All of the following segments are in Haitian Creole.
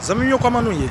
Zanmim yo kòman nou ye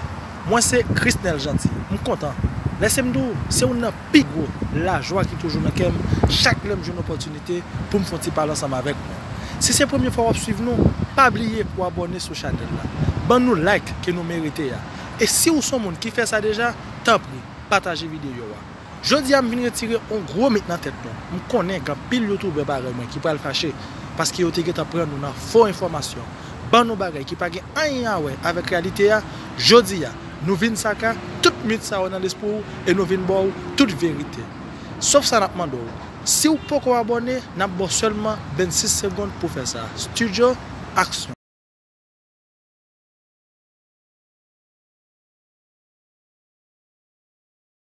mwen se Chrisnel Jeanty m kontan lèsem di w se youn nan pi gwo lajwa ki toujou nan kèm chak lèm jwenn opòtinite poum fon ti pale ansanm avèk nou si se premye fwa wap swiv nou pa bliye pou abòne sou chanèl la ban nou like ke nou merite a e siw son moun ki fè sa deja tanpri pataje videyo a Jodi a m vin retire on gwo mit nan tèt nou. M konnen gen anpil youtoubè parèy mwen ki pral fache paske yo te gentan pran nou nan fo enfòmasyon, ban nou bagay ki pa gen anyen a wè avèk reyalite a, jodi a nou vin saka tout mit sa yo nan lespri w e nou vin ba w tout verite. Sof sa n ap mande w, si w poko abòne n ap ba w sèlman 26 segond pou w fè sa. Studio, aksyon!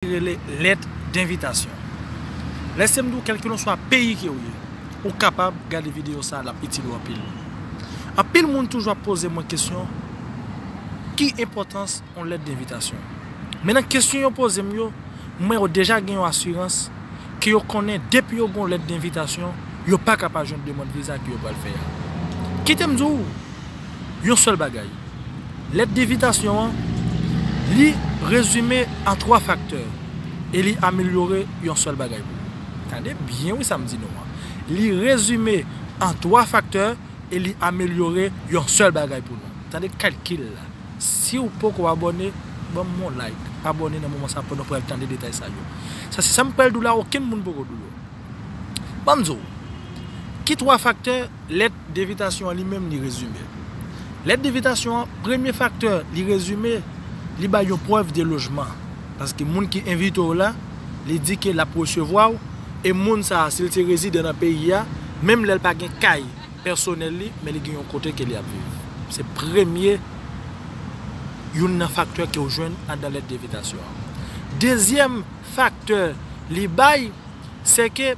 Ki rele lèt denvitasyon. Lèsem diw kelkelanswa peyi ke ou ye, ou kapab gade video sa lap itil ou anpil. Anpil moun toujou ap poze mwen kesyon ki enpòtans yon lèt denvitasyon. Men nan kesyon yo pozem yo, mwen yo deja gen yon asirans ke yo konnen depi yo gen yon lèt denvitasyon, yo paka pa jwenn demand viza ke yo pral fè a. Kitem diw, yon sèl bagay. Lèt devitasyon an, li rezime a 3 faktè e li amelyore yon sèl bagay pou ou. Tande byen wi sa m di nou an. Li rezime an 3 faktè e li amelyore yon sèl bagay pou nou. Tande kalkil la. Si ou poko abòne, ban m yon like, abòne nan moman sa pou nou pral tande detay sa yo. Sa se sa m pral di w la okenn moun poko di w yo. Banm di w, ki 3 faktè lèt devitasyon an li menm li rezime? Lèt devitasyon an, premye faktè li rezime, li bay yon prèv de lojman. Paske moun ki envite w la, li di ke l ap resevwa w, e moun sa a, si l se rezidan nan peyi a, menm lè l pa gen kay pèsonèl li, men li gen yon kote ke li ap viv. Se premye, youn nan faktè ke w jwenn anndan lèt devitasyon an. Dezyèm faktè li bay. se ke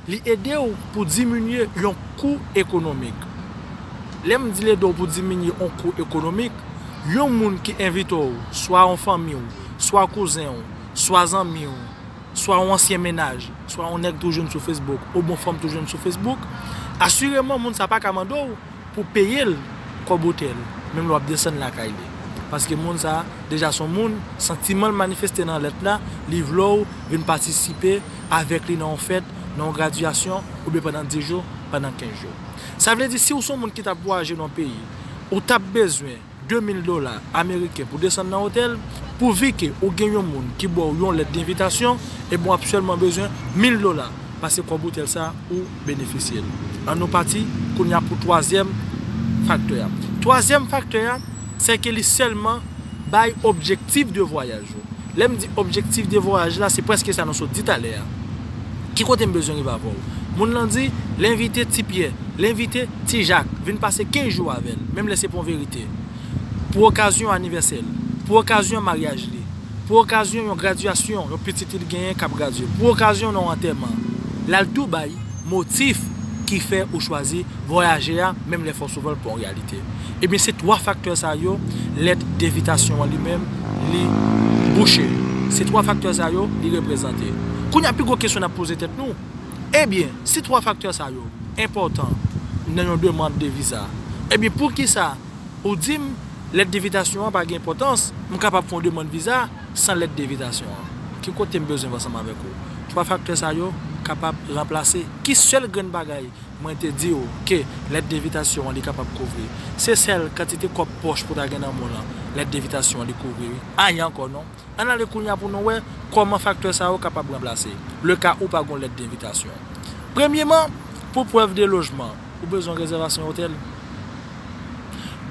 li ede w pou diminye yon kou ekonomik. Lè m di l ede w pou diminye yon kou ekonomik, yon moun ki envite w, swa yon fanmi w, swa kouzen w, swa zanmi w, swa yon ansyen mennaj, swa yon nèg tou jwenn sou Facebook, ou bon fanm tou jwenn sou Facebook, asireman moun sa pa ka mande w, pou peye l kòb otèl menm lè wap desann lakay li paske moun sa deja son moun santiman l manifeste nan lèt la li vle w vin patisipe avèk li nan yon fèt nan yon gradyasyon oubyen pandan 10 jou pandan 15 jou sa vle di si w son moun ki tap vwayaje nan yon peyi ou tap bezwen 2000 dola ameriken pou desann nan otèl, pou vi ke ou gen yon moun ki baw yon lèt denvitasyon, ebyen wap sèlman bezwen 1000 dola, pase kòb otèl sa ou benefisyel. An nou pati kounya pou twazyèm faktè a. Twazyèm faktè a, sè ke li sèlman bay objektif de vwayaj ou. Lè m di objektif de vwayaj la, se prèske sa nou sot di talè a. Ki kote m bezwen rive avè w? Moun lan di, L envite Ti Pyè, l envite Ti Jak vin pase 15 jou avè l, menm lè se pou yon verite. Pou okazyon anivèsè l. Pou okazyon maryaj li. Pou okazyon yon gradyasyon yon pitit li li genyen k ap gradye. Pou okazyon yon antèman. L al tou bay motif ki fè ou chwazi vwayaje a, menm lè fòsouvan l pa yon reyalite. Ebyen se 3 faktè sa yo lèt devitasyon an li menm li bouche. Se 3 faktè sa yo li reprezante. Kounye a pi gwo kesyon n ap poze tèt nou, ebyen si 3 faktè sa yo enpòtan nan yon demand de viza, ebyen poukisa ou di m lèt devitasyon an pa gen enpòtans, m kapab fè yon demand viza san lèt devitasyon an? Ki kote m bezwen vè ansanm avèk ou? 3 faktè sa yo kapab ranplase ki sèl grenn bagay? Mwen te di w ke lèt devitasyon an li kapab kouvri. Se sèl kantite kòb pòch pou ta gen nan men w lan lèt devitasyon an li kouvri wi. Anyen ankò non. Ann ale kounya pou nou wè kòman faktè sa yo kapab ranplase le ka ou pa gen w lèt devitasyon. Premyeman, pou prèv de lojman, ou bezwen rezèvasyon otèl.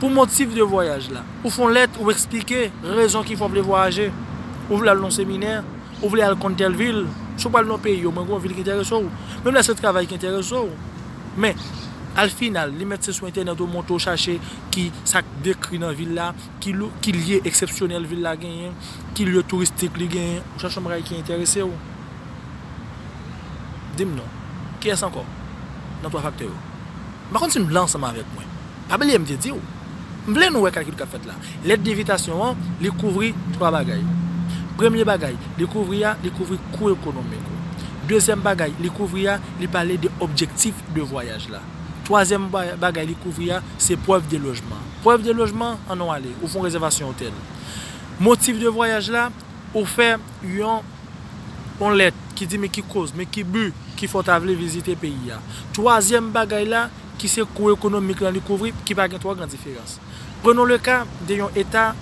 Pou motif de vwayaj la, ou fè yon lèt ou eksplike rezon ki fè w vle vwayaje, ou vle al nan yon seminè, Ou vle al konn tèl vil, si w pral nan yon peyi omwen gen yon vil ki enterese w, menm lè se travay ki enterese w. Men, al final, li mèt se sou entènèt ou monte ou chache ki sa k dekri nan vil la, ki lye eksepsyonèl vil la genyen, ki lye touristik li genyen, ou chache yon bagay ki enterese w. Di m non, kiyès ankò nan twa faktè yo? M pa konn si n blan ansanm avèk mwen. Pa bliye m te di w. M vle nou wè kalkil k ap fèt la. Lèt devitasyon an, li kouvri twa bagay. Premye bagay li kouvri a, li kouvri kou ekonomik ou. Dezyèm bagay li kouvri a, li pale de objektif de vwayaj la. Twazyèm bagay li kouvri a, se prèv de lojman. Prèv de lojman, an nou ale. Ou fon rezèvasyon otèl. Motif de vwayaj la, Ou fè yon on lèt ki di men ki koz, men ki but ki fè w ta vle vizite peyi a. Twazyèm bagay la ki se kou ekonomik lan li kouvri ki pa gen twò gran diferans. Prenons le cas de yon eta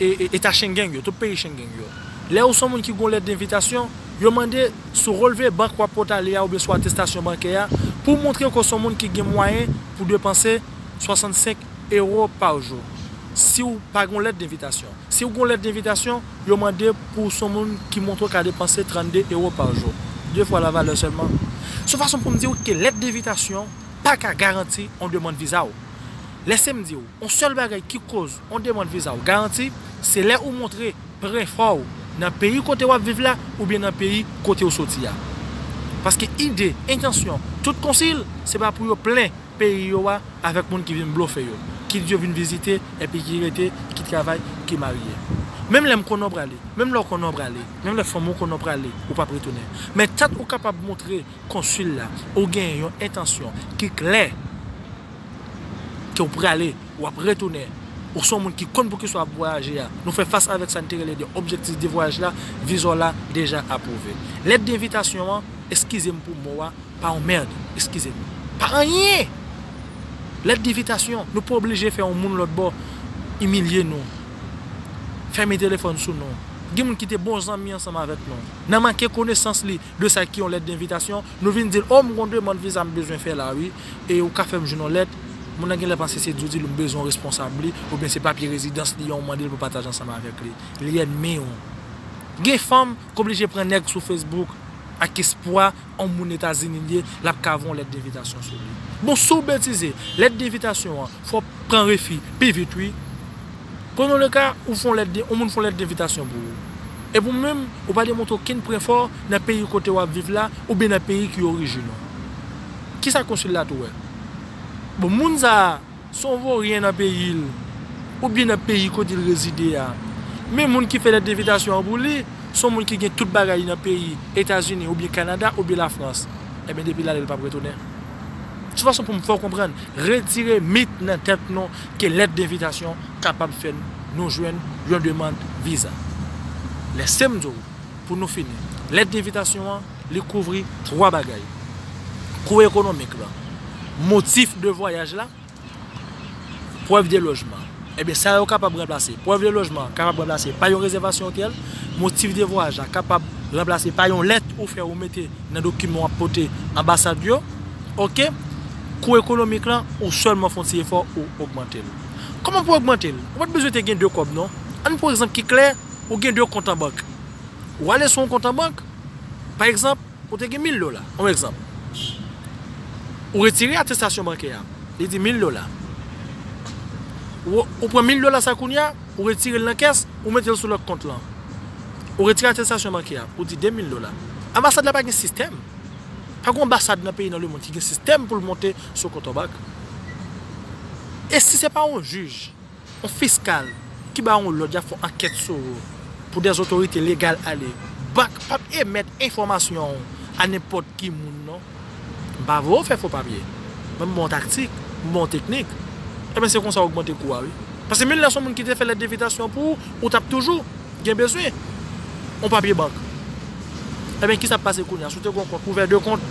eta Schengen yo, tout peyi Schengen yo. Lè ou s on moun ki gen yon lèt denvitasyon, yo mande sou relve bank w ap pot ale a oubyen sou atestasyon bankè a pou w montre ke w s on moun ki gen mwayen pou depanse 65 Euro par jour si w pa gen yon lèt denvitasyon. Si w gen yon lèt denvitasyon, yo mande pou w se yon moun ki montre w ka depanse 32 euro par jour, 2 fwa la valè sèlman. Se yon fason pou m di w ke lèt denvitasyon pa ka garanti yon demand viza w. Lèse m di w, yon sèl bagay ki koz yon demand viza w garanti, se lè ou montre pre enfò w nan peyi kote w ap viv la oubyen nan peyi kote w soti a. Paske ide, entansyon, tout konsil, se pa pou yo plen. peyi yo a avèk moun ki vin blofe yo, kit yo vin vizite epi ki rete, ki travay, ki marye. Menm lè m konnen w prale, menm lè w konnen w prale, menm lè fanmi w konnen w prale, ou p ap retounen. Men tant ou kapab montre Konsil la ou gen yon entansyon ki klè ke w prale, w ap retounen, ou se yon moun ki konn poukisa w ap vwayaje a, nou fè fas avèk sa n te rele de objektif de vwayaj la, viza w la deja apwouve. Lèt denvitasyon an, eskize m pou mo a, Pa yon merd, eskize. Pa anyen! Lèt divitasyon, nou pa oblije fè yon moun lòt bò imilye nou, fèmen telefòn sou nou. Gen moun ki te bon zanmi ansanm avèk nou. Nan manke konesans li de sa ki yon lèt denvitasyon, nou vin di l, O, m gon demand viza m bezwen fè la wi, e ou ka fè m jwenn yon lèt? Moun nan gen lè panse se djodil ou bezwen ou responsab li, oubyen se papye rezidans li an ou mande l pou pataje ansanm avèk li. Li ènmi ou. Gen fanm. k oblije pran nèg sou Facebook ak espwa on moun Etazini l ye l ap ka voye on lèt denvitasyon sou li. Bon si w betize, lèt denvitasyon an fè w pran refi pi vit wi. Prenons le cas ou fè on lèt on moun fè on lèt denvitasyon pou ou epi ou menm ou pa demontre okenn prè fò nan peyi kote w ap viv la oubyen nan peyi ki orijin ou. Kisa konsil la tou wè? Bon moun sa a. Son voryen nan peyi l, oubyen nan peyi kote l rezide a. Men moun ki fè lèt envitasyon an pou li, son moun ki gen tout bagay li nan peyi Etazini oubyen Kanada oubyen Lafrans. Enben depi l ale l pap retounen. Sou fason pou m fè w konprann, retire mit nan tèt nou ke lèt denvitasyon kapab fè nou jwenn yon demand viza. Lèse m di w, pou nou fini, lèt denvitasyon an. Li kouvri twa bagay, kou ekonomik lan, motif de vwayaj la, prèv de lojman. Ebyen sa yo kapab ranplase, prèv de lojman an kapab ranplase pa yon rezèvasyon otèl, motif de vwayaj la kapab ranplase pa yon lèt ou fè ou mete nan dokiman w ap pote anbasad yo. Ok. Kou ekonomik lan, ou sèlman fè yon ti efò ou ogmante l. Kòman pou ogmante l? Ou pa t bezwen te gen de kòb non. Ann pran egzanp ki klè, ou gen de kont anbank. Ou ale sou yon kont an bank, pa egzanp, ou te gen 1000 dola, yon egzanp. Ou retire atestasyon bankè a, li di 1000 dola. Ou pran 1000 dola sa kounye a, ou retire l nan kès, ou mete l sou lòt kont lan. Ou retire atestasyon bankè a, ou di 2000 dola. Anbasad la pa gen sistèm. Pa gen yon anbasad nan peyi nan lemonn ki gen sistèm pou l monte sou yon kont an bank. E si se pa yon jij? Yon fiskal ki ba yon lòd y ap fè yon ankèt sou ou pou dè otorite legal ale. Bank p ap emèt enfòmasyon ou a nenpòt ki moun non. M pa voye ou fè fo papye, men m ba w taktik, m ba w teknik. Enben se konsa ou ogmante kou a wi. Pase menm lè se yon moun ki te fè lèt envitasyon pou ou, ou t ap toujou gen bezwen yon papye bank. Enben kisa k pase kounye a? Si w te gen yon kont ouvè 2 kont?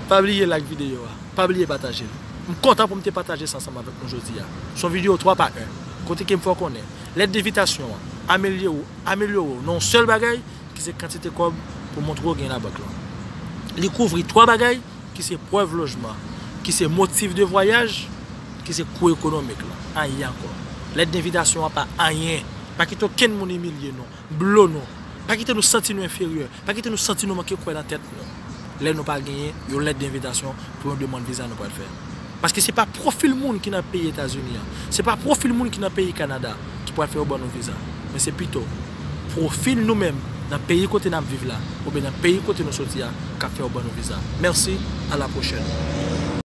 Pa bliye like videyo a. Pa bliye pataje l. M kontan pou m te pataje sa ansanm avèk nou jodi a. S on videyo 3 pa 1, kote ke m fè w konnen, lèt devitasyon an amelye w, amelyore w nan yon sèl bagay, ki se kantite kòb pou montre w gen nan bank lan. Li kouvri 3 bagay, ki se prèv lojman, ki se motif de vwayaj, ki se kou ekonomik lan. Anyen ankò. Lèt denvitasyon an pa anyen. Pa kite okenn moun imilye nou. Blo nou. Pa kite nou santi nou enferyè. Pa kite nou santi nou manke kwè nan tèt nou lè nou pa genyen yon lèt denvitasyon pou yon demand viza nou pral fè. Paske se pa pwofil moun ki nan peyi Etazini an, se pa pwofil moun ki nan peyi Kanada ki pral fè yo ban nou viza, men se pito pwofil nou menm nan peyi kote n ap viv la oubyen nan peyi kote nou soti a k ap fè yo ban nou viza. Mèsi, alapwochèn.